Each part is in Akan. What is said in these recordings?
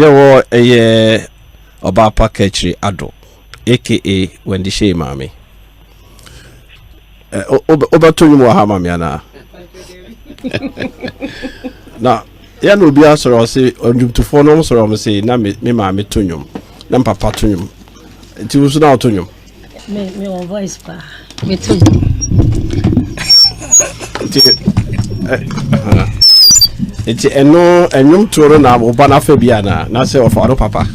Yɛwɔ ɛyɛ Ɔbaapa Kakyiri Ado aka Wendy Hyei maame. Wobɛto nnwom wɔ ha ma me anaa? Na yɛ na obi asɔrɔ ɔse ɔdwomtofoɔ no ɔmsɔrɔ ɔm se na me maame to nnwom na mpapa to nnwom nti wo so na woto nnwom. Me me wɔ voice paa. Me to. Nti ɛno ɛnwom tuo no na wo ba no afa bi anaa na sɛ ɔfa no papa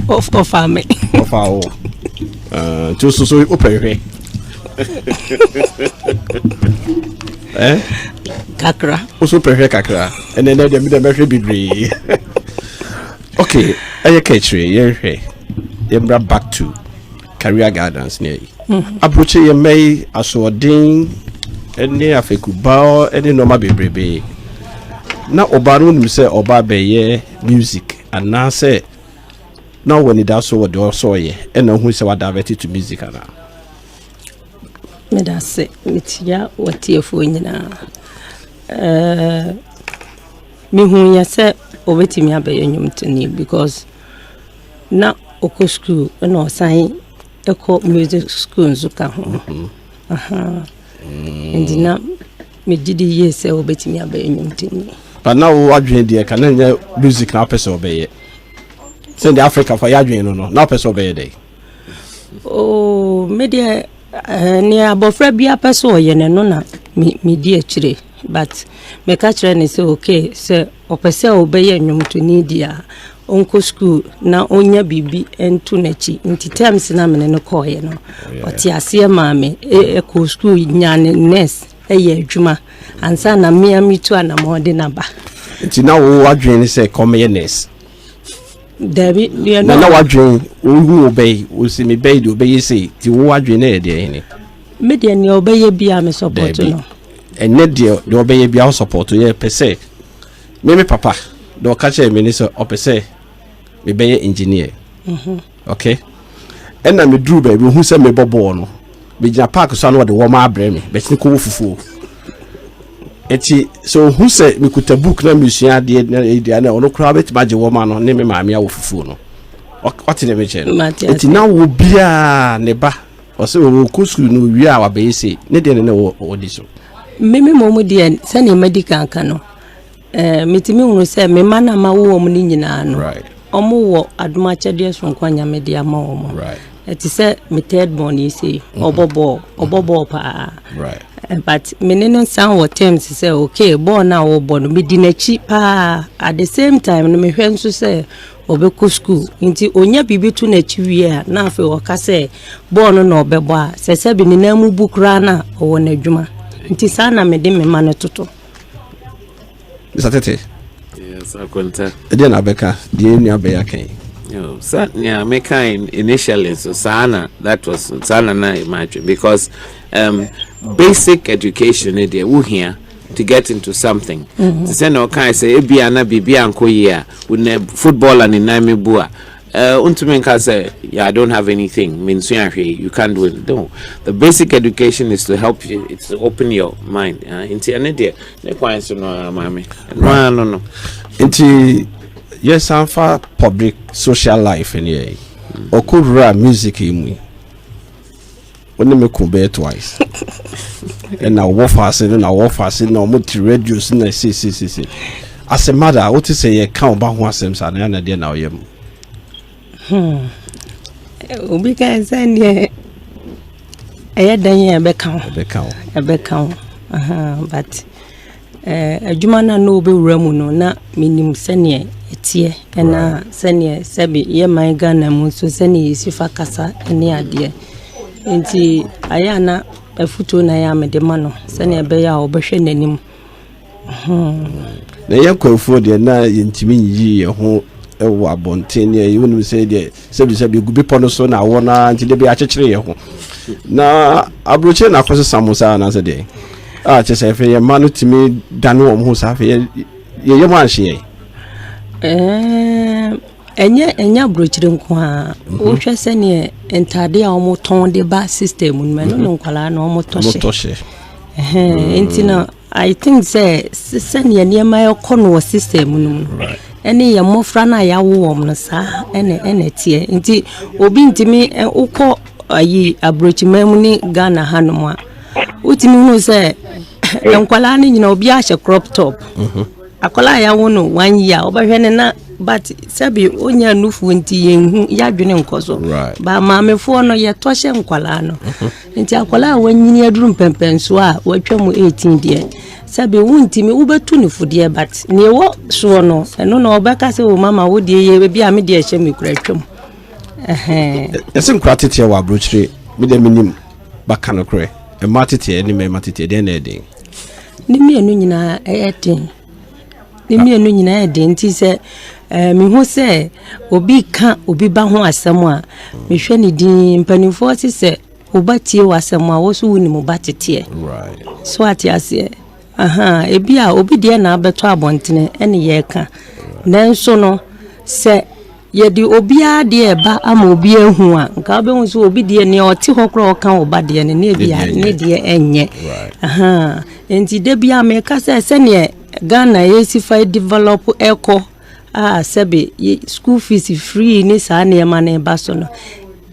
ɔfa me ɔfa wo ah, nti so so wopɛ hwɛ eh? kakra wo so pɛ hwɛ kakra ɛnɛ nɛ deɛ medɛ bɛhwɛ bebree ok ɛyɛ ka akyire yɛnhwɛ yɛmmra back to Career Gardens ne ayi. Aburokyi yɛ mmɛ yi asoɔden ne afɛkubaɔ ne nneɛma bebrebe. Na ɔbaa no wonim sɛ ɔbaa bɛyɛ music anaasɛ na ɔwɔ anidaso wɔ deɛ ɔsɛ ɔyɛ ɛna ɔhu sɛ wadavɛte to music anaa. Meda se metia watiefoɔ nyinaa. Mehu yɛ sɛ ɔbɛtumi abɛyɛ nnwomtoni because Na ɔkɔ sukuu na ɔsan kɔ music school nso ka ho mm-hmm. nti na megye di yie sɛ wobɛtumi abɛyɛ nnwomtoni but na wo adwene deɛ ka na nyɛ music na wopɛ sɛ ɔbɛyɛ sɛdeɛ africa fa yɛ adwene no no na wopɛ sɛ ɔbɛyɛ dɛn oh, medeɛ eh, ne abɔfra biara pɛ sɛ ɔyɛ no no na medi akyire but meka kyerɛ ne sɛ okay sɛ ɔpɛ sɛ ɔbɛyɛ nnwomtoni deɛ a ɔnkɔ sukuu na ɔnya biribi nto n'akyi nti terms na mene no kɔɔeɛ no ɔte aseɛ maa me ɛkɔɔ e, e, sukuu nya ne nurse ɛyɛ e, adwuma ansa na mmea metu anamɔ de naba nti na wo adwene ne sɛ kɔmeyɛ nurse dabi na na wadwene wohu wo bɛyi wosi me bɛyi deɛ ɔbɛyɛ sei nti wo adwene yɛ deɛ hene me deɛ neɛ ɔbɛyɛ bia me support no ɛnɛ deɛ deɛ ɔbɛyɛ bia wo support yɛ pɛ sɛ Me me papa na ɔka kyerɛ me ne sɛ ɔpɛ sɛ mebɛyɛ engineer. Mhm. Okay. Ɛna meduru baabi ohu sɛ mebɔ bɔɔl no. Megyina park so ano ɔde wɔma abrɛ me bɛtene kɔwɔ fufuo. Eti sɛ ohu sɛ mekuta book na mesua adeɛ na ɛdua na ɔno koraa bɛtumi agye wɔma no ne me maame awɔ fufuo no. Ɔte ne mekyɛ no. Eti na wo biara ne ba Ɔsɛ ɔkɔ sukuu no ɔwie a wabɛyɛ sei ne deɛ ne na ɔdi so. Meme mmom deɛ sɛdeɛ madi kan ka no eh, metumi hunu sɛ me mma no a mawo wɔn no nyinaa no wɔwɔ adom akyɛdeɛ soronko a nyame de ama wɔn ɛte sɛ me third born yi sei mm-hmm. ɔbɔ bɔɔl ɔbɔ mm-hmm. bɔɔl paa eh, but me ne no san wɔ terms sɛ okay bɔɔl no a wɔbɔ no medi n'akyi paa at the same time no mehwɛ nso sɛ Ɔbɛkɔ sukuu. Enti ɔnya biribi to n'akyi wie a, na afei ɔka sɛ bɔɔl no na ɔbɛbɔ a, sɛ sɛbe ne nan mu bu koraa no a, ɔwɔ n'adwuma. Nti saa na mede me mma no toto. Mr. Tete. Yes, Akwanta. Ɛdeɛ na abɛka deɛ yɛn nua bɛyɛ aka yi. Oh, sa nea meka initially nso saa na that was saa na na ɛma atwe because um, basic education ne deɛ wohia to get into something te sɛ na ɔkae sɛ ebia na biribi ankɔ yie a wonɛ football a ne nan me bu a Uh, untumi nka sɛ yeah, i don't have anything mensua hwee you can't do it no the basic education is to help you it's to open your mind uh, nti ɛne deɛ ne kwan so no ara maame ɛno ara no no nti yɛsan fa public social life ne yɛ ɔkɔ wura music yi mu yi Wo ne me ko bɛyɛ twice. Ɛna wɔwɔ faase no na wɔwɔ faase na wɔn ti radio si na sesesese. As a mother, wote sɛ yɛka ɔba ho asɛm saa na yɛn adeɛ na ɔyɛ mu. Hmm. Obi ka sɛ deɛ ɛyɛ dan yɛ ɛbɛka ho. Ɛbɛka ho. Ɛbɛka ho. But Adwuma no a na ɔbɛwura mu no, na menim sɛdeɛ ɛteɛ na sɛdeɛ sɛbe yɛ man Ghana mu nso sɛdeɛ yɛsi fa kasa ne adeɛ. Nti ayɛ a na afutuo na ayɛ a mede ma no sɛdeɛ ɛbɛyɛ a ɔbɛhwɛ n'anim. Na yɛn Kwafoɔ deɛ na yɛntumi nyiyi yɛn ho wɔ abɔnten ne ɛyi wonim sɛ deɛ sɛbisɛbi egu bepɔ no so na awɔ no ara nti dabi akyekyere yɛ ho na aburokyire na akɔ sesa mo saa anaasɛ deɛ a ah, kyɛ sɛ afei yɛn mma no tumi dane wɔn ho saa afei yɛyɛ mu anhyeɛ ɛnyɛ ɛnyɛ aburokyire nko a mhm. wohwɛ sɛneɛ ntadeɛ a wɔtɔn de ba system no ɛno ne mhm. nkwadaa na wɔtɔ hyɛ nti na I think sɛ sɛnea nneɛma ɛkɔ no wɔ system no mu ɛne yɛn mmɔfra no a yɛawo wɔn no saa ɛna ɛna ɛteɛ nti obi ntumi wokɔ ayi aburokyiman mu ne ghana hanom a wotumi hu sɛ nkwadaa no nyina obi ahyɛ crop top mhm. akwadaa a yɛawo no one year wobɛhwɛ ne na but sɛbi onya nufu nti yɛnhu yɛadwene nkɔ so ba maamefoɔ no yɛtɔ hyɛ nkwadaa no mhm. Nti akwadaa a wanyini aduru mpɛmpɛnsoɔ a watwa mu 18 deɛ sɛbi wontumi wobɛtu ne fo deɛ but nea ɛwɔ soɔ no ɛno na ɔbɛka sɛ o mama wo deɛ yɛ ebi a me deɛ ɛhyɛ me kura atwam ɛsɛ nkura teteɛ wɔ aburokyire me deɛ menim baka no korɛ mmaa teteɛ ne mmarima teteɛ deɛ na ɛden ne mmienu nyinaa ɛyɛ den Ne mmienu nyinaa yɛ den nti sɛ ɛɛ eh, mehu sɛ obi ka obi ba ho asɛm a mehwɛ ne din mpanimfoɔ se sɛ woba tie w'asɛm a wo so wo nim ba teteɛ so ate aseɛ aha ebi a obi deɛ na abɛtɔ abɔntene ɛne yɛreka nanso no sɛ Yɛde obiara deɛ reba ama obi ahu a, nka wobɛhu sɛ obi deɛ nea ɔte hɔ koraa ɔka wo ba deɛ no ne bia ne deɛ ɛnyɛ. Nti da bia meka sɛ sɛneɛ Ghana yɛsi fa develop ɛkɔ a sɛbe school fees free ne saa nneɛma no ba so no,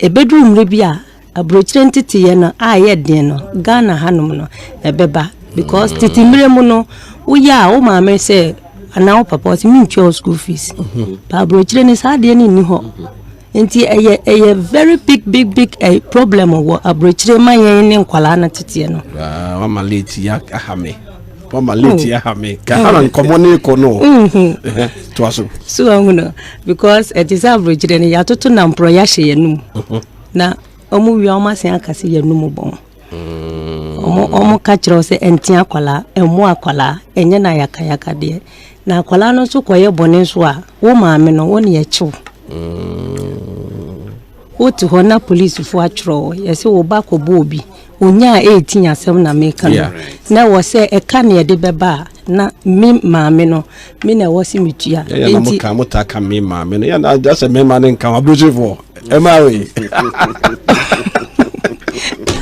ɛbɛduru mmerɛ bi a Aburokyire nteteeɛ no a ɛyɛ den no, Ghana hanom no ɛbɛba because mm. tete mmerɛ mu no woyɛ a wo maame sɛ anaa wo papa ɔsɛ mentua wo school fees mhm. ba aburokyire no saa adeɛ no nni hɔ mhm. nti ɛyɛ ɛyɛ very big big big eh, problem wɔ aburokyire ma yɛn ne nkwadaa no teteɛ no. wama late ya aha me wama late mm. ya aha me kahara mm. nkɔmɔ ne kɔ no mhm. to aso. so ɔhun no because ɛte sɛ aburokyire no yɛatoto namporɔ yɛahyɛ yɛn num. na ɔmo wia ɔmo asen aka sɛ yɛn mu bɔn ɔmo mm. ɔmo ka kyerɛ sɛ ɛnte akwadaa ɛmo akwadaa ɛnyɛ na yakayaka deɛ na akwadaa no nso kɔyɛ bɔne nso a wo maame no wo ne ɛkyew mm. wote hɔ na polisifoɔ atwerɛ yɛsɛ wo ba kɔbɔ obi Onya a ɛretin asɛm na meka no na ɛwɔ sɛ ɛka ne ɛde bɛba a na me maame no me na ɛwɔ sɛ metua nti ka mo ta ka me maame no yɛn agya sɛ me ma ne nka aburusifoɔ ɛma wei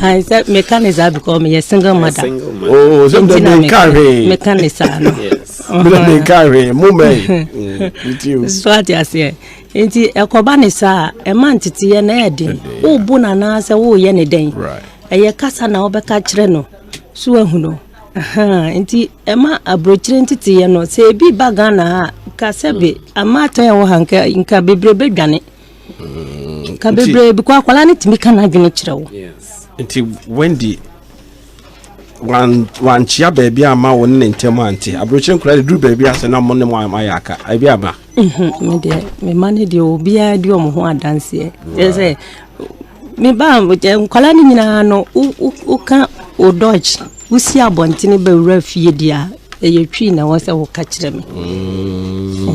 I said mechanism because me a single mother. Oh, so the me carry mechanism. Yes. Me carry mummy. So what you say? Enti ɛkɔba ne saa a, ɛma nteteeɛ no yɛ den. Wobu no anaasɛ woreyɛ ne dɛn? Ɛyɛ kasa na wobɛka kyerɛ no so wahu no. Nti ɛma aburokyire nteteeɛ no, sɛ ebi ba Ghana ha ka sɛ bi amaatan ɛwɔ ha nka nka bebree bɛdwane. Nka bebree bi kɔ akwadaa no tumi ka n'adwene kyerɛ wo. Nti Wendy wankyea baabi ama wo ne ne ntam ante aburokyerɛ nkora de duru baabi ase na mo ne mo ayɛ aka ebi aba medeɛ mema no deɛ obiara di ɔmo ho adanseɛ ɛ sɛ meba nkwadaa no nyinaa no woka wo dodge wosi abɔntene bɛwura fie deɛ a ɛyɛ twi na ɛwɔ sɛ woka kyerɛ me mm.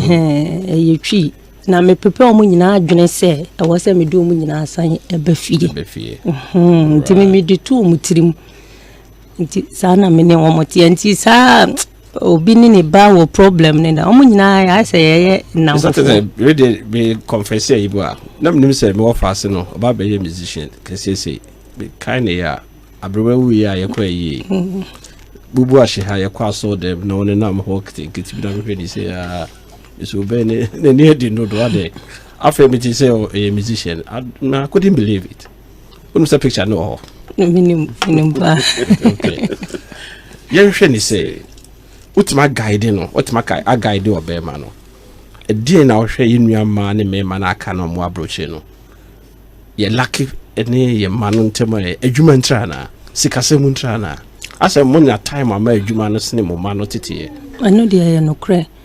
ɛyɛ twi Na mepepa wɔn nyinaa adwene sɛ ɛwɔ sɛ mede wɔn nyinaa san ba fie. Ba fie. Mhm. Nti me mede to wɔn tirim. Nti saa na me ne wɔn teɛ. Nti saa obi ne ne ba wɔ problem ne na wɔn nyinaa yɛ ayɛ sɛ yɛyɛ nnamfo. Sɛ sɛ rede me confess ayi mu a na menim sɛ mewɔ faase no ɔba bɛyɛ musician kɛseɛsei mekae ne yɛ a aberewa wuiɛ a yɛkɔ ayie mm-hmm. bubu ahye ha yɛkɔ asɔɔ dɛm na ɔne nam hɔ nketenkete bi na mehwɛ ne sɛ aa so bɛn ne n'ani adi no do ade afei mi ti sɛ ɔyɛ musician na I couldn't believe it wọn sɛ picture no wɔ hɔ. minim minim paa. yɛnhwɛ ne sɛ wotumi agaide no wotumi agaide ɔbɛrima no ɛdeɛn na ɔhwɛ yɛ nua mmaa ne mmarima no aka no ɔmo aburokye no yɛ laki ne yɛ mma no ntɛm a adwuma ntira na sikasɛm ntira na asɛ mo nya time ama adwuma no sene mo mma no teteɛ. ɛno deɛ yɛ nokorɛ.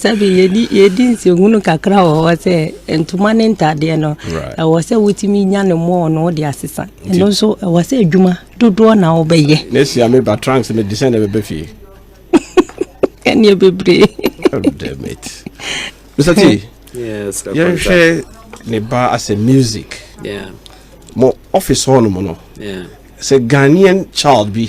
Sɛbi yɛdi yɛdi nsɛhunu kakra wɔ hɔ sɛ ntoma ne ntadeɛ no ɛwɔ sɛ wotumi nya ne mɔɔ no wode asesa ɛno nso ɛwɔ sɛ adwuma dodoɔ na wobɛyɛ na asia me ba tranks me de sɛ na ɛbɛbɛ fie ɛneɛ bebree Mr. T yɛnhwɛ ne ba as a music yeah. mo office hɔ nom no yeah. sɛ Ghanaian child bi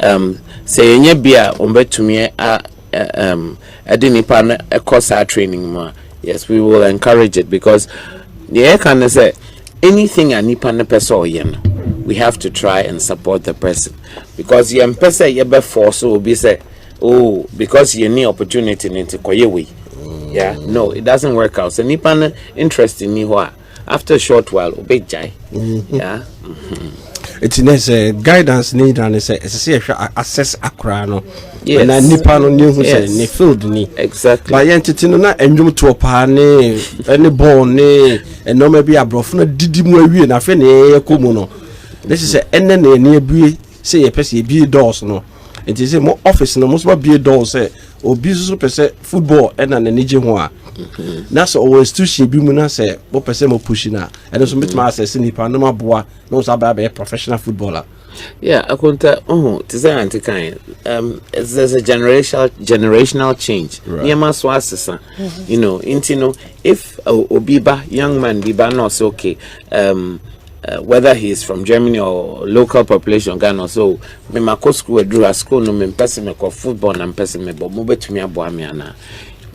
Um, sɛ yɛnya bi a wɔbɛtumi a um, ɛde nipa no ɛkɔ saa training mu a yes we will encourage it because deɛ yɛka ne sɛ anything a nipa no pɛ sɛ ɔyɛ no we have to try and support the person because yɛn pɛ sɛ yɛbɛ force obi sɛ oh because yɛn ni opportunity ne nti kɔyɛ wei yeah no it doesn't work out sɛ nipa no interest ni hɔ a. after short while obɛgyae mm-hmm. yeah. Mm-hmm. nti ne sɛ guidance ne nyina ne sɛ ɛsɛ sɛ yɛhwɛ access akoraa no na nipa no ne hu sɛ ne field ni exactly ba yɛn tete no na ɛnwom toɔ paa ne ɛne bɔɔl ne ɛnɔɔma bi aborɔfo no didi mu awie na afei ne yɛyɛ kɔ mu no ne sɛ sɛ ɛnɛ na yɛne abue Sɛ yɛ pɛ sɛ yɛ bie doors no nti sɛ mo office no mo soma bie doors sɛ obi nso pɛ sɛ football ɛna n'ani gye ho a na sɛ ɔwɔ institution bi mu na sɛ mo pɛ sɛ mo push na ɛno nso mo tuma asɛse nipa na mo aboa na wɔn nso abɛyɛ abɛyɛ professional footballer. Yeah, akonta ɔho te sɛ ante kan um, there's a generational generational change nneɛma so asesa you know nti no if uh, obi ba young man bi ba na ɔsɛ okay um, Uh, whether he is from Germany or local population Ghana so me ma kɔ school aduru ha school no me mpɛ sɛ mekɔ football na mpɛ sɛ mebɔ mobɛtumi aboa me anaa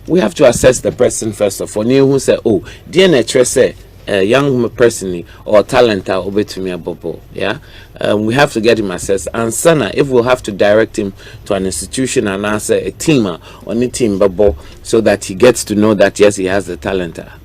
we have to assess the person first of all ne ɛhu sɛ oh deɛ na ɛkyerɛ sɛ a young person or talent a obetumi abɔbɔ yeah um, we have to get him assessed and sana if we'll have to direct him to an institution and as a team on the team bubble so that he gets to know that yes he has the talent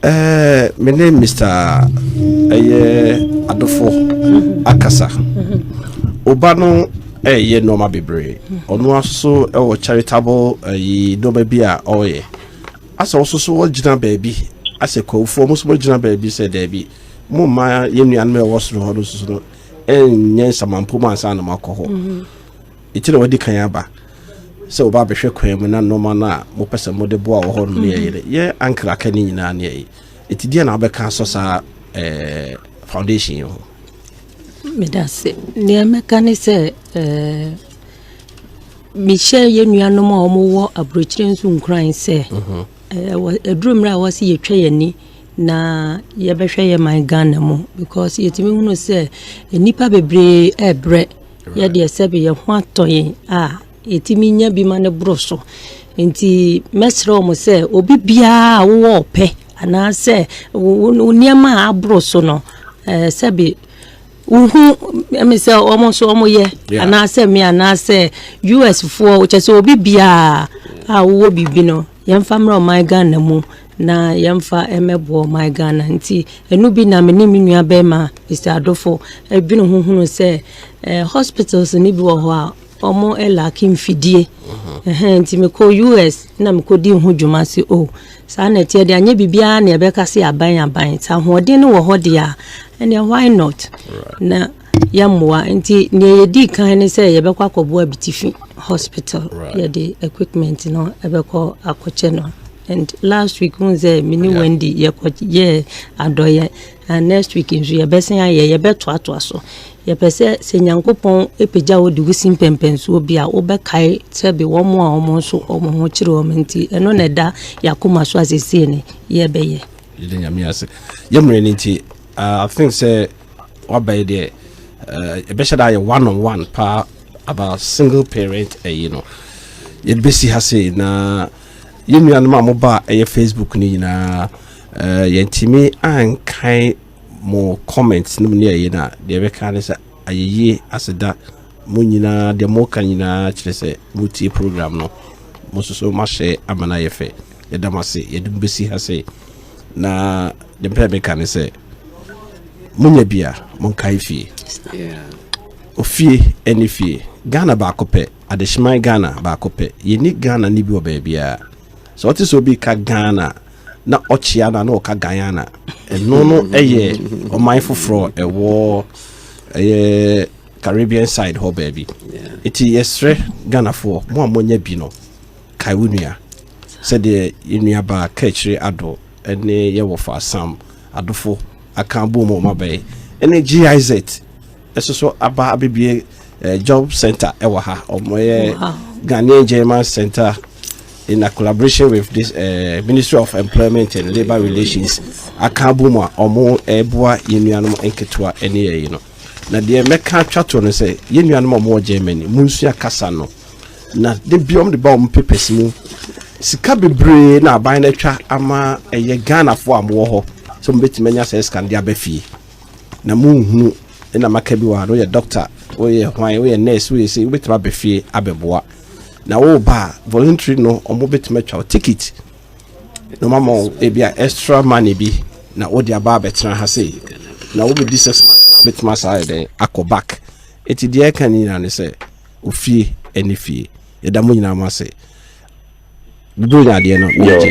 Ɛɛ me ne Mr. ɛyɛ adofo akasa. Oba no ɛyɛ nneɛma bebree. Ɔno aso ɛwɔ charitable ɛyi nneɛma bi a ɔyɛ. Asɛ ɔso so ɔgyina baabi asɛ kwawufoɔ mo so mo gyina baabi sɛ daabi mo mma yɛn nuanom ɛwɔ soro hɔ no soso no ɛnyɛ nsamanpo mu ansa na mo akɔ hɔ. Enti na wadi kan aba sɛ wɔba abɛhwɛ kwan mu na nneɛma no a mopɛ sɛ mode boa wɔ hɔ no ne ɛyɛ dɛ yɛ ankara aka ne nyinaa ne ɛyɛ eti deɛ na wobɛka asɔ saa ɛɛ foundation yi ho. medase nea mɛka ne sɛ ɛɛ mehyɛ yɛn nuanom a wɔwɔ aburokyire nso nkuran sɛ ɛɛ aduru mmerɛ a wɔsi yɛtwa yɛn ani na yɛbɛhwɛ yɛn man ghana mu because yɛtumi hunu sɛ nnipa bebree ɛɛbrɛ. Yɛ deɛ sɛbe yɛ ho atɔ yɛn a, yɛtumi nya bi ma no boro so. Nti mɛsrɛ wɔn sɛ obi biara a wowɔ ɔpɛ anaasɛ wo wo nneɛma a aboro so no ɛɛ sɛbe wohu ɛmi sɛ wɔn nso wɔn yɛ anaasɛ mi anaasɛ US foɔ kyɛ sɛ obi biara a wowɔ biribi no Yɛmfa mmra ɔman Ghana mu na yɛmfa mmɛboa ɔman Ghana nti ɛno bi na me ne me nua bɛrima Mr. Adofo adwene ho hunu sɛ eh, hospitals no bi wɔ hɔ a ɔmo ɛlake mfidie ɛhɛn nti mekɔ US na mekɔdi ho dwuma se o oh, saa na ɛteɛ de anyɛ biribiara na ɛbɛka se aban aban sɛ ahoɔden no wɔ hɔ deɛ a ɛneɛ why not na yɛmmoa nti nea yɛdii kan ne sɛ yɛbɛkɔ akɔboa abitifi hospital yɛde equipment no ɛbɛkɔ akɔkyɛ no and last week hun sɛ me ne wendy yɛkɔ yɛ adɔyɛ and next week nso yɛbɛsen ayɛ yɛbɛtoatoa so yɛpɛ sɛ sɛ nyankopɔn ɛpagya wo de wo si mpɛmpɛnsoɔ bi a wobɛkae sɛ bi wɔn a wɔn nso wɔn ho kyerɛ wɔn nti ɛno na ɛda yɛakoma so asesie ne yɛbɛyɛ yɛde nyame ase yɛmmerɛ no nti Uh, I think say what by the uh, a bit that one on one pa about single parent uh, you know. You busy has say na you know my mobile uh, Facebook ni na uh, yɛntumi ankan mo comments no mu ne ɛyɛ no a deɛ ɛbɛka ne sɛ ayɛyie aseda mo nyinaa deɛ moka nyinaa kyerɛ sɛ motie program no mo nso so moahyɛ ama no ayɛ fɛ yɛda mo ase yɛde mo bɛsi ha sɛ na ne mpɛ meka ne sɛ monya bi a monkae fie ofie ɛne fie ghana baako pɛ adehyeman ghana baako pɛ yɛni ghana ne bi wɔ baabiaa sɛ ɔte sɛ obi ka ghana na ɔkyea no na ɔka guyana ɛno no ɛyɛ ɔman foforɔ ɛwɔ ɛyɛ caribbean side hɔ baabi ɛti yɛserɛ ghanafoɔ mo a monya bi no Kae wo nua. Sɛdeɛ yɛn nuabaa Kaakyire Addo ne yɛn wɔfa Sam Adofo aka abom a wɔaba yi, ne GIZ nso so aba abɛbie eh, job center ɛwɔ ha. Wɔyɛ Ghanaian German Center in a collaboration with this uh, Ministry of Employment and Labour Relations aka abom a wɔreboa yɛn nuanom nketewa ne yɛyi no. Na deɛ mɛka atwa to no sɛ yɛn nuanom a wɔwɔ Germany, monsua kasa no. Na da biara wɔn de ba wɔn papers mu sika bebree na aban no atwa ama ɛyɛ Ghanafoɔ a wɔwɔ hɔ sɛ wɔbɛtumi anya saa sika no de aba fie na monhunu na maka bi wɔ ha no woyɛ doctor woyɛ hwan woyɛ nurse woyɛ sɛ wobɛtumi aba fie abɛboa na woba a voluntary no wɔbɛtumi atwa wo ticket na wɔama wo ebi a extra money bi na wode aba abɛtena ha sei na wobɛdi six months bɛtumi asaa yɛ dɛn akɔ back ɛti deɛ ɛka ne nyinaa ne sɛ ofie ɛne fie yɛda mo nyinaa mo ase bibire nya adeɛ no yɛgye